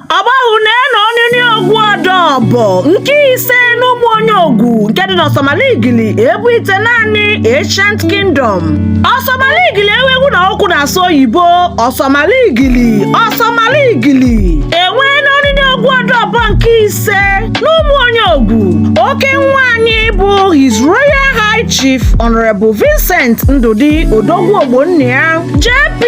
ọgbahụ na-eno onini ogwu ọdọbọ nke ise n'ụmụ onye ogwu nke dị n'ọsọmala igili ebu ite naanị ancient kingdom ọsọmala igili ewegwu na okwu na-asụ oyibo ọsọmala igili ọsọmala igili enweena onini ogwu ọdọbọ nke ise n'ụmụ onye ogwu oke nwa anyị bụ his royal high chief honorable vincent ndụdị odogwu ogbonnia jp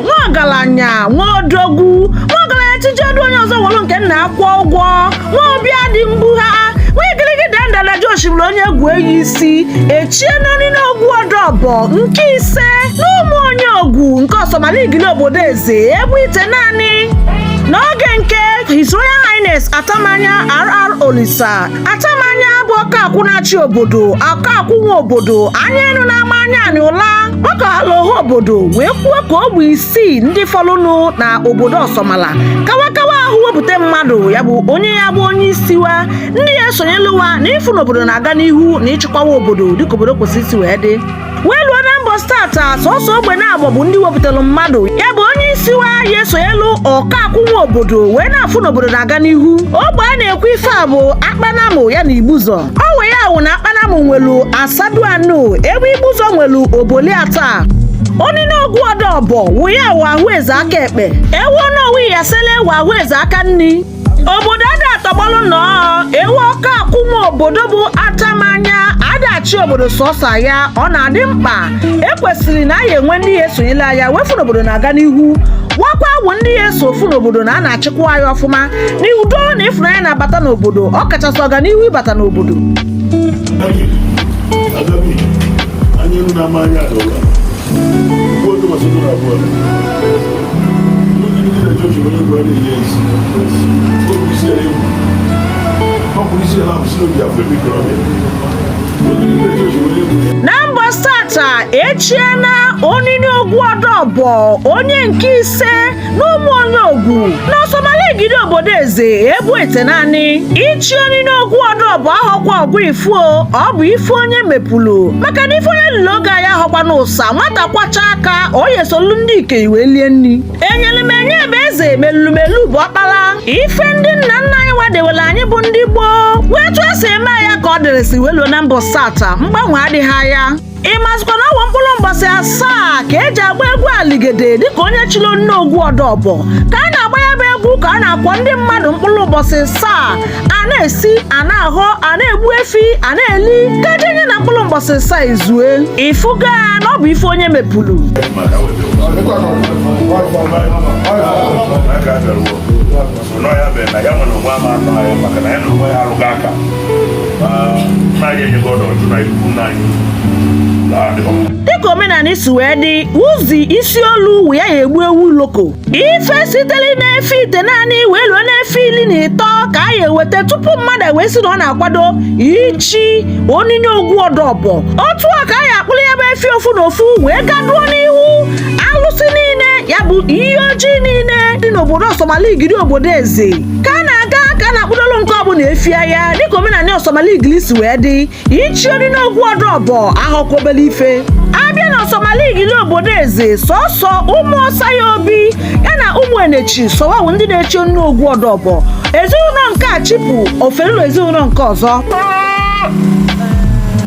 nwa ọgalanya nwa odogwu nwa ọgalanya chijie ọdụ onye ọzọ wolu nke nna a kwụọ ụgwọ nwa obi adị mbugha nwa igiligi dandala ji osimiri onye egwu eyi isi echiena onini ogwu ọdọbọ nke ise n'ụmụ onye ogwu nke ọsọmala igili obodo eze ebu ite naanị n'oge nke His Royal Highness Atamanya RR Olisa Atamanya bụ ọkakwụ na-achị obodo ọkakwụ nwe obodo anya enu na-ama anya anị ụla gbakọhala ọha obodo wee kwuo ka ogbe isi isii ndị fọlụnụ na obodo ọsọmala ka wa kawa ahụ wepụta mmadụ ya bụ onye ya bụ onye isi wa ndị ya esonyelu wa na ịfụ na obodo na-aga n'ihu na ịchịkwawa obodo dịka obodo kwesịrị isi wee dị wee luo na mbọsị tata sọsọ ogbe naabọ bụ ndị wepụtalụ mmadụ ya bụ onye isi wa ya esonyelu ọkakwụ nwe obodo wee na-afụ na obodo na-aga n'ihu ogbe a na-ekwu ife a bụ akpanamụ ya na igbuzọ ọ wụ ya wụ na akpanam nwelu asadu anu ebe igbuzọ nwelu oboli ata onini ogwu ọdọbọ wụ ya wụ ahụ eze aka ekpe ewe onowu iyasele wụ ahụ eze aka nni obodo ada atọgbọlụ nọọ ewe ọkakwụ nwe obodo bụ atamanya ada achị obodo sọsọ ya ọ na-adị mkpa e kwesịrị na a ya enwe ndị ya esonyelu ya wee fụ na obodo na-aga n'ihu wa kwa wụ ndị ya eso afụ n'obodo na a na-achịkwa ya ọfụma n'udo na ịfụnanya na-abata n'obodo ọ kachasị ọganihu ịbata n'obodo na mbọsị tata echiena onini ogwu ọdọbọ onye nke ise n'ụmụ onye ogwu n'ọsọmala igili obodo eze ebu ite naanị ichi onini ogwu ọdọbọ ahọkwa ọgwụ ifuo ọ bụ ife onye mepụlụ maka na ife onye lụlụ oge ya ahọkwa n'ụsa nwata kwọchaa aka ọ ya esolu ndị ikei wee lie nni enyelu m enye bụ eze melulumelu bụ ọkpala ife ndị nna nna anyị wa dewelu anyị bụ ndị gboo wa etu e si eme ya ka ọ dịrịsị wee luo na mbọsị taa mgbanwe adịghị ya ị mazikwa na ọ wụ mkpụlụ mbọsị asaa ka eji agba egwu aligede dịka onye chili onini ogwu ọdọbọ ka a na-agba ya bụ egwu ka a na-akwọ ndị mmadụ mkpụlụ ụbọsị asaa a na-esi a na-ahọ a na-egbu efi a na-eli ka ejenye na mkpụlụ mbọsị asaa ezue ị fụga na ọ bụ ife onye mepụlụ nọ ya mere na ya nwere onwe ama anọ anyị maka na ya na onwe ya alụghị aka na anyị enyego ọdọ ọjụ na ikwu nna anyị dịka omenanị si wee dị ụzi isi olu wụ ya ya egbu ewu loko ife sitere n'efi itenaanị wee luo n'efi iri na ịtọ ka a ya eweta tupu mmadụ wee si na ọ na-akwado ichi oniniogwu ọdọbọ otu a ka a ya akpụrụ ya bụ efi ofu na ofu wee gaduo n'ihu alụsị niile ya bụ iyi oji niile dị n'obodo ọsọmala igili obodo eze ka a na-aga ka a na-akpụdolu nke ọbụla efi ya dịka omenanị ọsọmala igili si wee dị ichi oniniogwu ọdọbọ ahọkwa obele ife a bịa na ọsọmala igili obodo eze sọsọ ụmụ ọsa ya obi ya na ụmụ enechi sọ wa wụ ndị na-echi oniniogwu ọdọbọ ezinụlọ nke a chipụ o ferulu ezinụlọ nke ọzọ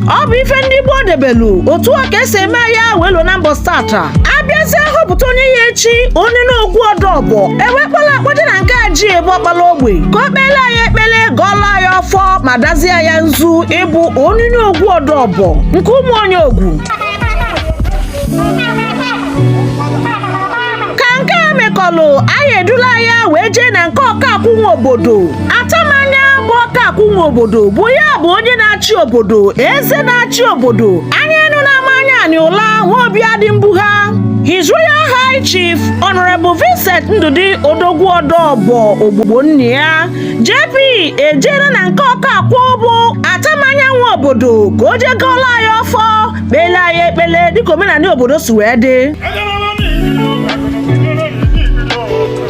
ọ bụ ife ndị gboo debelu otu a ka esi eme ya wee luo na mbọ stata a bịazie họpụta onye ya echi oniniogwu ọdọbọ e wee kpọla ya kpọje na nke Ajie bụ ọkpala ogbe ka o kpele ya ekpele gọọla ya ọfọ ma dazie ya nzu ịbụ oniniogwu ọdọbọ nke ụmụ onye ogwu ka nke a mekọlụ a ya edula ya wee jee na nke ọkakwụ nwe obodo atamanya bụ ọkakwụ nwe obodo bụ ya bụ onye na-achị obodo eze na-achị obodo anyanwụ na-ama anya anyị ụla nwa obi adị mbugha His Royal High Chief Honorable Vincent Ndụdị Odogwu Ọdọbọ Ogbo Ogbonnia JP e jere na nke ọkakwụ bụ atamanya nwe obodo ka o jee gọọla ya ọfọ kpele ya ekpele dịka omenanị obodo si wee dị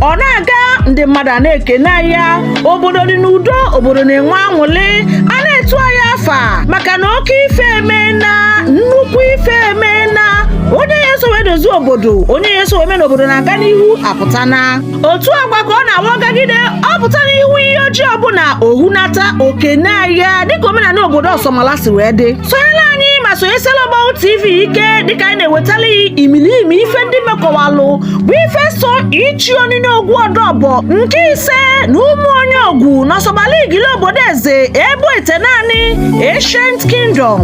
ọ na-aga ndị mmadụ na-ekene ya obodo dị n'udo obodo na-enwe anwụlị a na-etu ya afa maka na oke ife emena nnukwu ife emena onye ya eso wee dozie obodo onye ya eso wee mee n'obodo na-aga n'ihu apụtana otu agwa ka ọ na-awa gagide ọ pụta n'ihu iyi oji ọbụla o hunata o kene ya dịka omenanị obodo ọsọmala si wee dị sonyela anyị ma sonyesela Ọgbahụ TV ike dịka anyị na-ewetala gị imiliimi ife ndị mekọwalụ bụ ife so ichi oniniogwu ọdọbọ nke ise na ụmụ onye ogwu n'ọsọmala igili obodo eze ebo itenaanị ancient kingdom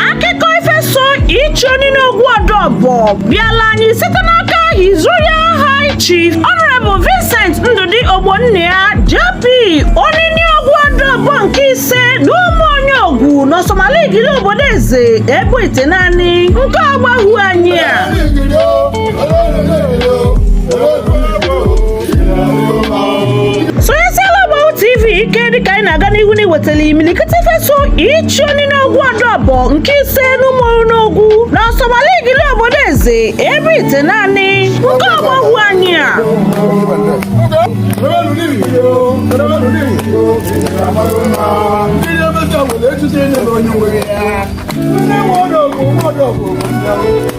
akụkọ ife so ichi oniniogwu ọdọbọ bịala anyị site n'aka His Royal High Chief Honorable Vincent Ndụdị Ogbonnia JP oniniogwu ọdọbọ nke ise n'ụmụ onye ogwu n'ọsọmala igili obodo eze ebo itenaanị nke Ọgbahụ anyị a wetala imilikiti ife so ichi Oninogwu Ọdọbọ nke ise n'Ụmụoniogwu na Ọsọmala Igili obodo eze ebo itenaanị nke Ọgbahụ anyị a Ndị